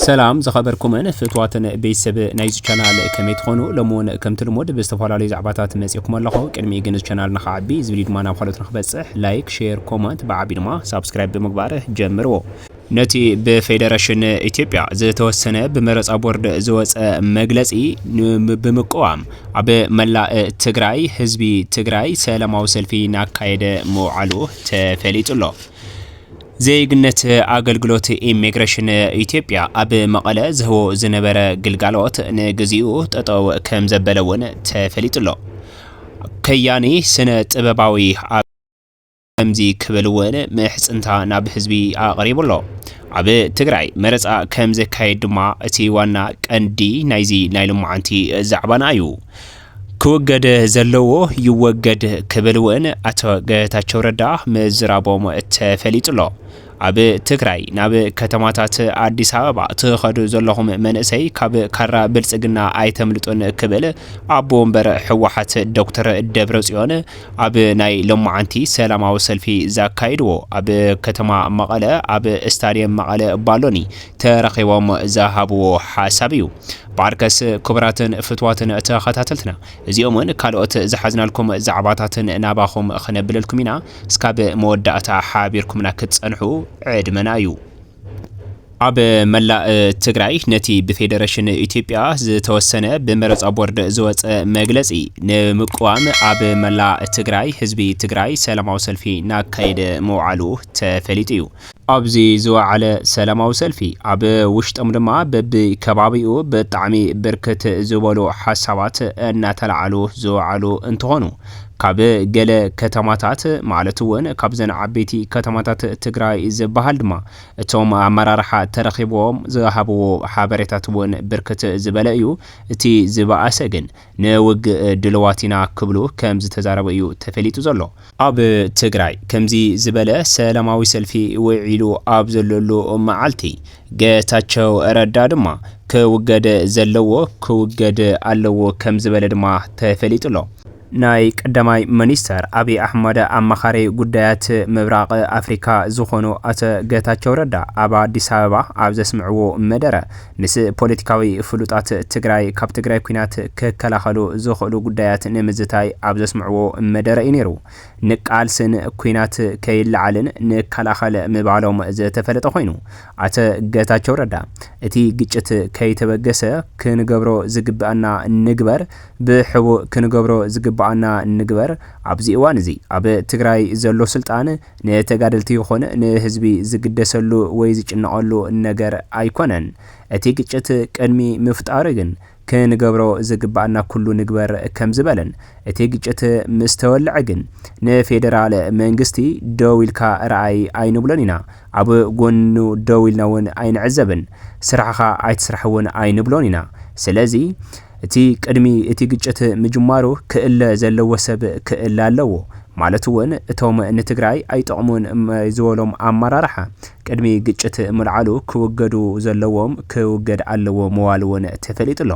ሰላም ዝኸበርኩምን ፍትዋትን ቤተሰብ ናይዚ ቻናል ከመይ ትኾኑ ሎሚ እውን ከምቲ ልሙድ ብዝተፈላለዩ ዛዕባታት መፂእኩም ኣለኹ ቅድሚኡ ግን እዚ ቻናል ንክዓቢ እዚ ቪድዮ ድማ ናብ ካልኦት ንክበፅሕ ላይክ ሼር ኮመንት ብዓቢ ድማ ሳብስክራይብ ብምግባር ጀምርዎ ነቲ ብፌደረሽን ኢትዮጵያ ዝተወሰነ ብመረፃ ቦርድ ዝወፀ መግለፂ ብምቅዋም ኣብ መላእ ትግራይ ህዝቢ ትግራይ ሰላማዊ ሰልፊ ናካየደ ምውዓሉ ተፈሊጡ ኣሎ። ዜግነት ኣገልግሎት ኢሚግሬሽን ኢትዮጵያ ኣብ መቐለ ዝህቦ ዝነበረ ግልጋሎት ንግዚኡ ጠጠው ከምዘበለ እውን ተፈሊጡ'ሎ። ከያኒ ስነ ጥበባዊ ኣብ ከምዚ ክብል እውን ምሕፅንታ ናብ ህዝቢ ኣቕሪቡ'ሎ። ኣብ ትግራይ መረፃ ከምዘካየድ ድማ እቲ ዋና ቀንዲ ናይዚ ናይ ሎማዓንቲ ዛዕባና እዩ። ክውገድ ዘለዎ ይወገድ ክብል እውን ኣቶ ገታቸው ረዳ ምዝራቦም ተፈሊጡሎ። ኣብ ትግራይ ናብ ከተማታት ኣዲስ ኣበባ ትኸዱ ዘለኹም መንእሰይ ካብ ካራ ብልፅግና ኣይተምልጡን ክብል ኣቦ ወንበር ህወሓት ዶክተር ደብረፅዮን ኣብ ናይ ሎማዓንቲ ሰላማዊ ሰልፊ ዛካይድዎ ኣብ ከተማ መቐለ ኣብ ስታድየም መቐለ ባሎኒ ተረኺቦም ዝሃብዎ ሓሳብ እዩ። ብዓርከስ ክቡራትን ፍትዋትን ተኸታተልትና እዚኦምን ካልኦት ዝሓዝናልኩም ዛዕባታትን ናባኹም ክነብለልኩም ኢና እስካብ መወዳእታ ሓቢርኩምና ክትጸንሑ ዕድመና እዩ። ኣብ መላእ ትግራይ ነቲ ብፌደረሽን ኢትዮጵያ ዝተወሰነ ብመረፃ ቦርድ ዝወፀ መግለፂ ንምቅዋም ኣብ መላእ ትግራይ ህዝቢ ትግራይ ሰላማዊ ሰልፊ ናካየደ ምውዓሉ ተፈሊጡ እዩ። ኣብዚ ዝወዓለ ሰላማዊ ሰልፊ ኣብ ውሽጦም ድማ በቢ ከባቢኡ ብጣዕሚ ብርክት ዝበሉ ሓሳባት እናተልዓሉ ዝወዓሉ እንትኾኑ ካብ ገለ ከተማታት ማለት እውን ካብዘን ዓበይቲ ከተማታት ትግራይ ዝበሃል ድማ እቶም ኣመራርሓ ተረኺብዎም ዝሃብዎ ሓበሬታት እውን ብርክት ዝበለ እዩ እቲ ዝበኣሰ ግን ንውግእ ድልዋት ኢና ክብሉ ከምዝተዛረቡ እዩ ተፈሊጡ ዘሎ። ኣብ ትግራይ ከምዚ ዝበለ ሰላማዊ ሰልፊ ውዒሉ ኣብ ዘለሉ መዓልቲ፣ ገታቸው ረዳ ድማ ክውገድ ዘለዎ ክውገድ ኣለዎ ከምዝበለ ድማ ተፈሊጡ ኣሎ። ናይ ቀዳማይ ሚኒስተር ኣብይ ኣሕመድ ኣማኻሪ ጉዳያት ምብራቕ ኣፍሪካ ዝኾኑ ኣቶ ገታቸው ረዳ ኣብ ኣዲስ ኣበባ ኣብ ዘስምዕዎ መደረ፣ ምስ ፖለቲካዊ ፍሉጣት ትግራይ ካብ ትግራይ ኲናት ክከላኸሉ ዝኽእሉ ጉዳያት ንምዝታይ ኣብ ዘስምዕዎ መደረ እዩ ነይሩ። ንቃልስን ኲናት ከይለዓልን ንከላኸል ምባሎም ዝተፈለጠ ኮይኑ፣ ኣቶ ገታቸው ረዳ እቲ ግጭት ከይተበገሰ ክንገብሮ ዝግበእና ንግበር፣ ብሕቡእ ክንገብሮ ዝግበኣና ንግበር፣ ኣብዚ እዋን እዚ ኣብ ትግራይ ዘሎ ስልጣን ንተጋደልቲ ይኹን ንህዝቢ ዝግደሰሉ ወይ ዝጭነቐሉ ነገር ኣይኮነን። እቲ ግጭት ቅድሚ ምፍጣሩ ግን ክንገብሮ ዝግበኣና ኩሉ ንግበር ከምዝበለን እቲ ግጭት ምስ ተወለዐ ግን ንፌደራል መንግስቲ ደው ኢልካ ረኣይ ኣይንብሎን ኢና፣ ኣብ ጎኑ ደው ኢልና እውን ኣይንዕዘብን፣ ስራሕኻ ኣይትስራሕ እውን ኣይንብሎን ኢና። ስለዚ። እቲ ቅድሚ እቲ ግጭት ምጅማሩ ክእለ ዘለዎ ሰብ ክእለ ኣለዎ ማለት እውን እቶም ንትግራይ ኣይጠቕሙን ዝበሎም ኣመራርሓ ቅድሚ ግጭት ምልዓሉ ክውገዱ ዘለዎም ክውገድ ኣለዎ ምባል እውን ተፈሊጡ ኣሎ።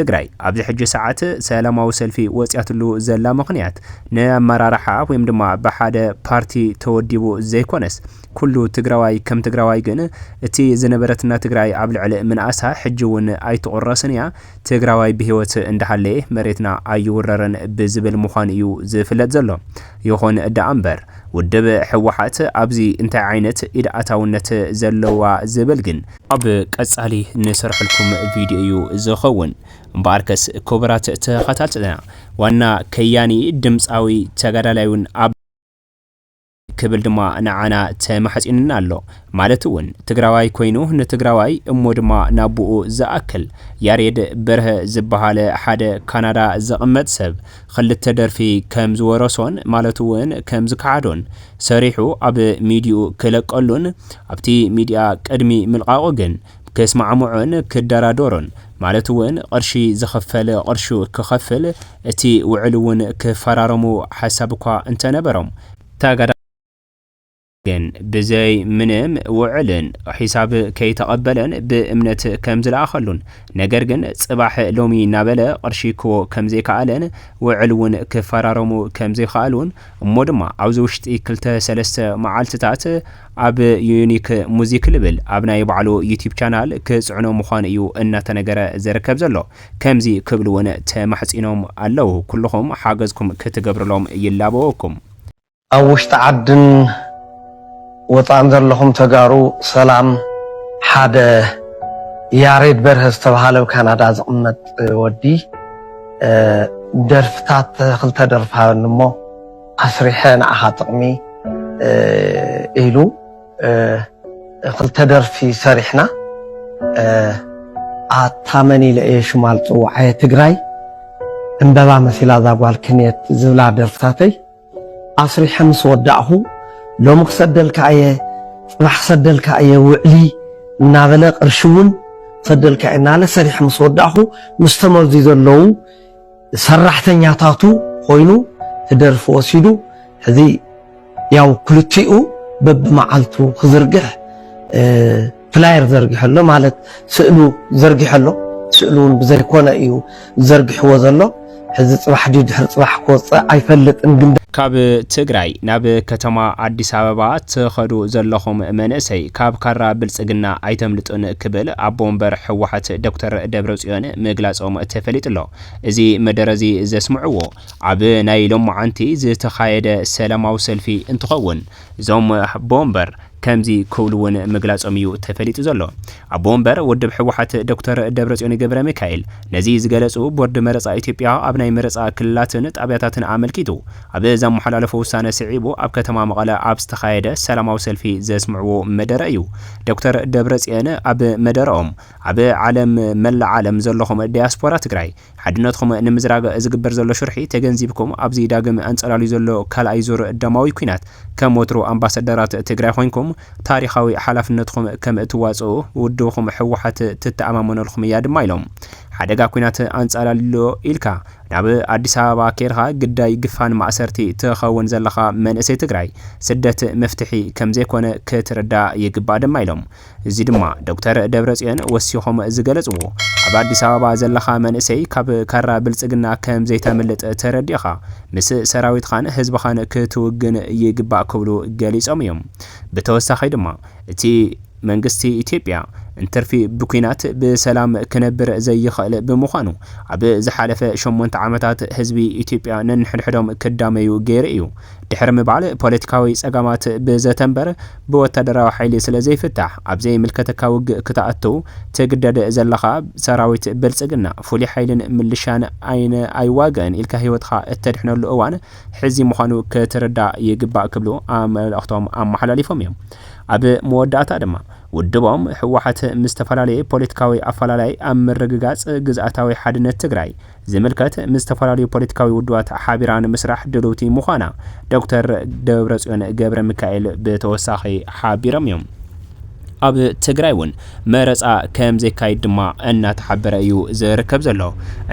ትግራይ ኣብዚ ሕጂ ሰዓት ሰላማዊ ሰልፊ ወፂኣትሉ ዘላ ምኽንያት ንኣመራርሓ ወይም ድማ ብሓደ ፓርቲ ተወዲቡ ዘይኮነስ ኩሉ ትግራዋይ ከም ትግራዋይ ግን እቲ ዝነበረትና ትግራይ ኣብ ልዕሊ ምንኣሳ ሕጂ ውን ኣይትቁረስን እያ ትግራዋይ ብሂወት እንዳሃለየ መሬትና ኣይውረርን ብዝብል ምዃኑ እዩ ዝፍለጥ ዘሎ ይኹን ዳኣ እምበር ውድብ ህወሓት ኣብዚ እንታይ ዓይነት ኢድ ኣታውነት ዘለዋ ዝብል ግን ኣብ ቀፃሊ ንሰርሐልኩም ቪድዮ እዩ ዝኸውን እምበኣርከስ ክቡራት ተኸታተልና ዋና ከያኒ ድምፃዊ ተጋዳላይ ውን ኣብ። ክብል ድማ ንዓና ተማሕጺኑና ኣሎ። ማለት እውን ትግራዋይ ኮይኑ ንትግራዋይ እሞ ድማ ናቡኡ ዝኣክል። ያሬድ በርሀ ዝበሃለ ሓደ ካናዳ ዝቕመጥ ሰብ ኽልተ ደርፊ ከም ዝወረሶን ማለት እውን ከም ዝከሓዶን ሰሪሑ ኣብ ሚድይኡ ክለቀሉን ኣብቲ ሚድያ ቅድሚ ምልቓቑ ግን ክስማዕምዖን ክደራደሮን ማለት እውን ቕርሺ ዝኽፈል ቕርሹ ክኸፍል እቲ ውዕል እውን ክፈራረሙ ሓሳብ እኳ እንተነበሮም፣ ተጋዳላይ በረኸት ግን ብዘይ ምንም ውዕልን ሒሳብ ከይተቐበለን ብእምነት ከምዝለኣኸሉን ነገር ግን ፅባሕ ሎሚ እናበለ ቕርሺ ክህቦ ከምዘይከኣለን ውዕል እውን ክፈራረሙ ከምዘይኸኣሉን እሞ ድማ ኣብዚ ውሽጢ ክልተ ሰለስተ መዓልትታት ኣብ ዩኒክ ሙዚክ ልብል ኣብ ናይ ባዕሉ ዩቲብ ቻናል ክፅዕኖ ምዃኑ እዩ እናተነገረ ዝርከብ ዘሎ። ከምዚ ክብሉ'ውን ተማሕጺኖም ኣለዉ፣ ኩሉኹም ሓገዝኩም ክትገብሩሎም ይላበወኩም። ኣብ ውሽጢ ዓድን ወጻእን ዘለኹም ተጋሩ ሰላም፣ ሓደ ያሬድ በርሀ ዝተብሃለ ኣብ ካናዳ ዝቕመጥ ወዲ ደርፍታት ክልተ ደርፊ ሃበኒ እሞ ኣስሪሐ ንዓኻ ጥቕሚ ኢሉ፣ ክልተ ደርፊ ሰሪሕና ኣታ መን ኢለ እየ ሽማ ዝፅውዓየ ትግራይ ዕምበባ መሲላ እዛ ጓል ክንየት ዝብላ ደርፍታተይ ኣስሪሐ ምስ ወዳእኹ ሎሚ ክሰደልካ እየ ፅባሕ ክሰደልካ እየ ውዕሊ እናበለ ቅርሺ እውን ክሰደልካ እየ እናበለ ሰሪሐ ምስ ወዳእኹ ምስ ተመዙ ዘለዉ ሰራሕተኛታቱ ኮይኑ ክደርፊ ወሲዱ ሕዚ ያው ክልቲኡ በብመዓልቱ ክዝርግሕ ፍላየር ዘርጊሑ ኣሎ ማለት ስእሉ ዘርጊሑ ኣሎ ስእሉ እውን ብዘይኮነ እዩ ዘርጊሕዎ ዘሎ ሕዚ ፅባሕ ድዩ ድሕሪ ፅባሕ ክወፅእ ኣይፈልጥን ግን ካብ ትግራይ ናብ ከተማ ኣዲስ ኣበባ ትኸዱ ዘለኹም መንእሰይ ካብ ካራ ብልፅግና ኣይተምልጡን ክብል ኣቦ ወንበር ህወሓት ዶክተር ደብረፅዮን ምግላፆም ተፈሊጡ'ሎ። እዚ መደረ እዚ ዘስምዕዎ ኣብ ናይ ሎማዓንቲ ዝተኻየደ ሰላማዊ ሰልፊ እንትኸውን እዞም ኣቦ ወንበር ከምዚ ክብሉ እውን ምግላፆም እዩ ተፈሊጡ ዘሎ። ኣቦ ወንበር ውድብ ህወሓት ዶክተር ደብረፅዮን ገብረሚካኤል ነዚ ዝገለፁ ቦርድ መረፃ ኢትዮጵያ ኣብ ናይ መረፃ ክልላትን ጣብያታትን ኣመልኪቱ ኣብ ዘመሓላለፎ ውሳነ ስዒቡ ኣብ ከተማ መቐለ ኣብ ዝተኻየደ ሰላማዊ ሰልፊ ዘስምዕዎ መደረ እዩ። ዶክተር ደብረፅዮን ኣብ መደረኦም ኣብ ዓለም መላእ ዓለም ዘለኹም ዳያስፖራ ትግራይ ሓድነትኹም ንምዝራግ ዝግበር ዘሎ ሽርሒ ተገንዚብኩም ኣብዚ ዳግም ኣንፀላልዩ ዘሎ ካልኣይ ዙር ደማዊ ኲናት ከም ወትሩ ኣምባሰደራት ትግራይ ኾይንኩም ታሪኻዊ ሓላፍነትኹም ከም እትዋፅኡ ውድብኹም ህወሓት ትተኣማመነልኹም እያ ድማ ኢሎም። ሓደጋ ኲናት ኣንፃላልዩ'ሎ ኢልካ ናብ ኣዲስ ኣበባ ኬድኻ ግዳይ ግፋን ማእሰርቲ ትኸውን ዘለኻ መንእሰይ ትግራይ ስደት መፍትሒ ከም ዘይኮነ ክትርዳእ ይግባእ ድማ ኢሎም። እዚ ድማ ዶክተር ደብረፅዮን ወሲኾም ዝገለፅዎ ኣብ ኣዲስ ኣበባ ዘለኻ መንእሰይ ካብ ካራ ብልፅግና ከም ዘይተምልጥ ተረዲእኻ ምስ ሰራዊትኻን ህዝብኻን ክትውግን ይግባእ ክብሉ ገሊፆም እዮም። ብተወሳኺ ድማ እቲ መንግስቲ ኢትዮጵያ እንትርፊ ብኲናት ብሰላም ክነብር ዘይኽእል ብምዃኑ ኣብ ዝሓለፈ ሸሞንተ ዓመታት ህዝቢ ኢትዮጵያ ነንሕድሕዶም ክዳመዩ ገይሩ እዩ ድሕሪ ምባል ፖለቲካዊ ፀገማት ብዘተ እምበር ብወታደራዊ ሓይሊ ስለ ዘይፍታሕ ኣብ ዘይምልከተካ ውግእ ክተኣትው ትግደድ ዘለኻ ሰራዊት ብልጽግና ፍሉይ ሓይልን ምልሻን ኣይን ኣይዋገእን ኢልካ ህይወትኻ እተድሕነሉ እዋን ሕዚ ምዃኑ ክትርዳእ ይግባእ ክብሉ ኣመልእኽቶም ኣመሓላሊፎም እዮም ኣብ መወዳእታ ድማ ውድቦም ህወሓት ምስ ተፈላለየ ፖለቲካዊ ኣፈላላይ ኣብ ምርግጋጽ ግዝኣታዊ ሓድነት ትግራይ ዝምልከት ምስ ዝተፈላለዩ ፖለቲካዊ ውድባት ሓቢራ ንምስራሕ ድልውቲ ምዃና ዶክተር ደብረፅዮን ገብረሚካኤል ብተወሳኺ ሓቢሮም እዮም። ኣብ ትግራይ እውን መረፃ ከምዘይካየድ ድማ እናተሓበረ እዩ ዝርከብ ዘሎ።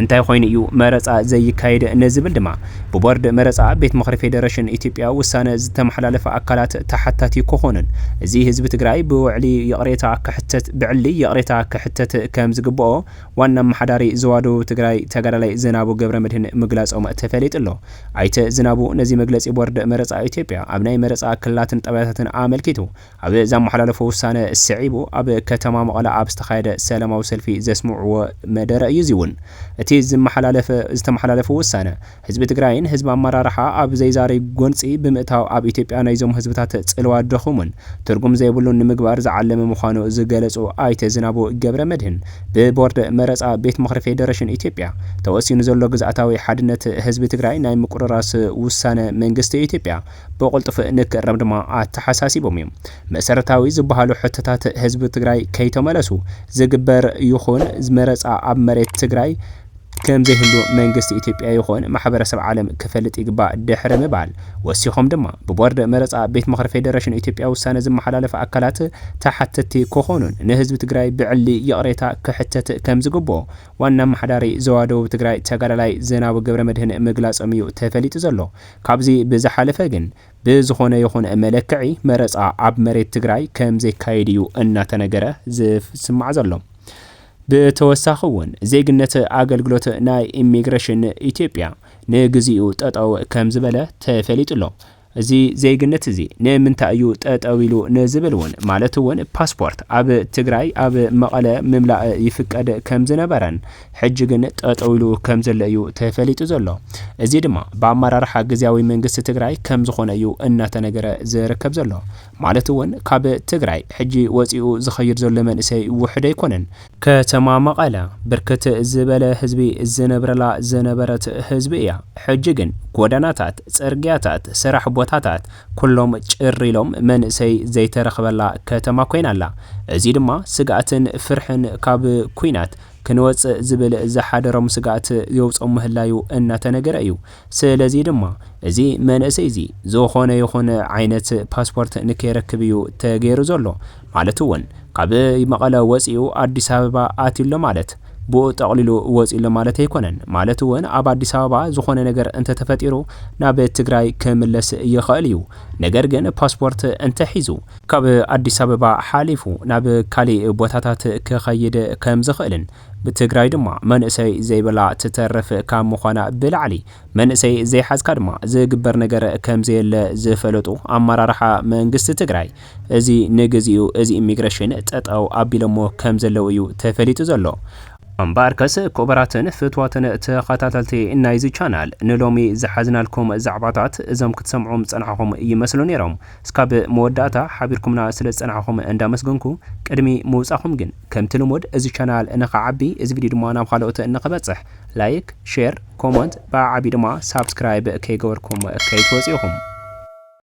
እንታይ ኮይኑ እዩ መረፃ ዘይካየድ ንዝብል ድማ ብቦርድ መረፃ ቤት ምኽሪ ፌዴሬሽን ኢትዮጵያ ውሳነ ዝተመሓላለፈ ኣካላት ተሓታቲ ክኾኑን እዚ ህዝቢ ትግራይ ብውዕሊ ይቕሬታ ክሕተት ብዕሊ ይቕሬታ ክሕተት ከምዝግበኦ ዋና ኣመሓዳሪ ዞባ ደቡብ ትግራይ ተጋዳላይ ዝናቡ ገብረመድህን ምግላፆም ተፈሊጡ'ሎ። ኣይተ ዝናቡ ነዚ መግለፂ ቦርድ መረፃ ኢትዮጵያ ኣብ ናይ መረፃ ክልላትን ጣብያታትን ኣመልኪቱ ኣብ ዘመሓላለፎ ውሳነ ስዒቡ ኣብ ከተማ መቐለ ኣብ ዝተኻየደ ሰላማዊ ሰልፊ ዘስምዕዎ መደረ እዩ። እዚ'ውን እቲ ዝተመሓላለፈ ውሳነ ህዝቢ ትግራይን ህዝቢ ኣመራርሓ ኣብ ዘይዛሪ ጎንፂ ብምእታው ኣብ ኢትዮጵያ ናይዞም ህዝብታት ፅልዋ ድኹምን ትርጉም ዘይብሉን ንምግባር ዝዓለመ ምዃኑ ዝገለፁ ኣይተ ዝናቡ ገብረመድህን ብቦርድ መረፃ ቤት ምኽሪ ፌዴሬሽን ኢትዮጵያ ተወሲኑ ዘሎ ግዝኣታዊ ሓድነት ህዝቢ ትግራይ ናይ ምቁርራስ ውሳነ መንግስቲ ኢትዮጵያ ብቕልጡፍ ንክእረም ድማ ኣተሓሳሲቦም እዮም። መሰረታዊ ዝበሃሉ ሕቶታት ህዝቢ ትግራይ ከይተመለሱ ዝግበር ይኹን መረፃ ኣብ መሬት ትግራይ ከምዘይህሉ መንግስቲ ኢትዮጵያ ይኹን ማሕበረሰብ ዓለም ክፈልጥ ይግባእ ድሕሪ ምባል ወሲኾም ድማ ብቦርድ መረፃ ቤት ምኽሪ ፌዴሬሽን ኢትዮጵያ ውሳነ ዝመሓላለፍ ኣካላት ተሓተትቲ ክኾኑን ንህዝቢ ትግራይ ብዕሊ ይቕሬታ ክሕተት ከምዝግብኦ ዋና ኣመሓዳሪ ዞባ ደቡብ ትግራይ ተጋዳላይ ዝናቡ ገብረመድህን ምግላፆም እዩ ተፈሊጡ ዘሎ። ካብዚ ብዝሓለፈ ግን ብዝኾነ ይኹን መለክዒ መረፃ ኣብ መሬት ትግራይ ከምዘይካየድ እዩ እናተነገረ ዝስማዕ ዘሎ። ብተወሳኺ እውን ዜግነት ኣገልግሎት ናይ ኢሚግሬሽን ኢትዮጵያ ንግዚኡ ጠጠው ከምዝበለ ተፈሊጡ ኣሎ። እዚ ዜግነት እዚ ንምንታይ እዩ ጠጠው ኢሉ ንዝብል እውን ማለት እውን ፓስፖርት ኣብ ትግራይ ኣብ መቐለ ምምላእ ይፍቀድ ከምዝነበረን ሕጂ ግን ጠጠው ኢሉ ከምዘሎ እዩ ተፈሊጡ ዘሎ። እዚ ድማ ብኣመራርሓ ግዝያዊ መንግስቲ ትግራይ ከምዝኾነ እዩ እናተነገረ ዝርከብ ዘሎ። ማለት እውን ካብ ትግራይ ሕጂ ወፂኡ ዝኸይድ ዘሎ መንእሰይ ውሑድ ኣይኮነን። ከተማ መቐለ ብርክት ዝበለ ህዝቢ ዝነብረላ ዝነበረት ህዝቢ እያ። ሕጂ ግን ጎደናታት፣ ፅርግያታት፣ ስራሕ ቦታታት ኩሎም ጭር ኢሎም መንእሰይ ዘይተረኽበላ ከተማ ኮይና ኣላ። እዙይ ድማ ስግኣትን ፍርሕን ካብ ኲናት ክንወፅእ ዝብል ዝሓደሮም ስግኣት የውፆም ምህላዩ እናተነገረ እዩ። ስለዚ ድማ እዚ መንእሰይ እዚ ዝኾነ ይኹን ዓይነት ፓስፖርት ንከይረክብ እዩ ተገይሩ ዘሎ። ማለት እውን ካብ መቐለ ወፂኡ ኣዲስ ኣበባ ኣትዩ ኣሎ ማለት ብኡ ጠቕሊሉ ወፂኡ ኣሎ ማለት ኣይኮነን። ማለት እውን ኣብ ኣዲስ ኣበባ ዝኾነ ነገር እንተተፈጢሩ ናብ ትግራይ ክምለስ ይኸእል እዩ። ነገር ግን ፓስፖርት እንተሒዙ። ካብ ኣዲስ ኣበባ ሓሊፉ ናብ ካሊእ ቦታታት ክኸይድ ከምዝኸእልን ብትግራይ ድማ መንእሰይ ዘይብላ ትተርፍ ካብ ምዃና ብላዕሊ መንእሰይ ዘይሓዝካ ድማ ዝግበር ነገር ከምዘየለ ዝፈለጡ ኣመራርሓ መንግስቲ ትግራይ እዚ ንግዚኡ እዚ ኢሚግሬሽን ጠጠው ኣቢሎሞ ከምዘለው እዩ ተፈሊጡ ዘሎ። እምበኣርከስ ኩቡራትን ፍትዋትን ተኸታተልቲ ናይዚ ቻናል ንሎሚ ዝሓዝናልኩም ዛዕባታት እዞም ክትሰምዑም ዝጸናሕኹም ይመስሉ ኔሮም። እስካብ መወዳእታ ሓቢርኩምና ስለዝጸናሕኹም እንዳመስገንኩ ቅድሚ ምውጻኹም ግን፣ ከምቲ ልሙድ እዚ ቻናል እንክዓቢ እዚ ቪድዮ ድማ ናብ ኻልኦት እንክበፅሕ ላይክ ሼር ኮሞንት ብኣዓብዩ ድማ ሳብስክራይብ ከይገበርኩም ከይትወፅኡ ኢኹም።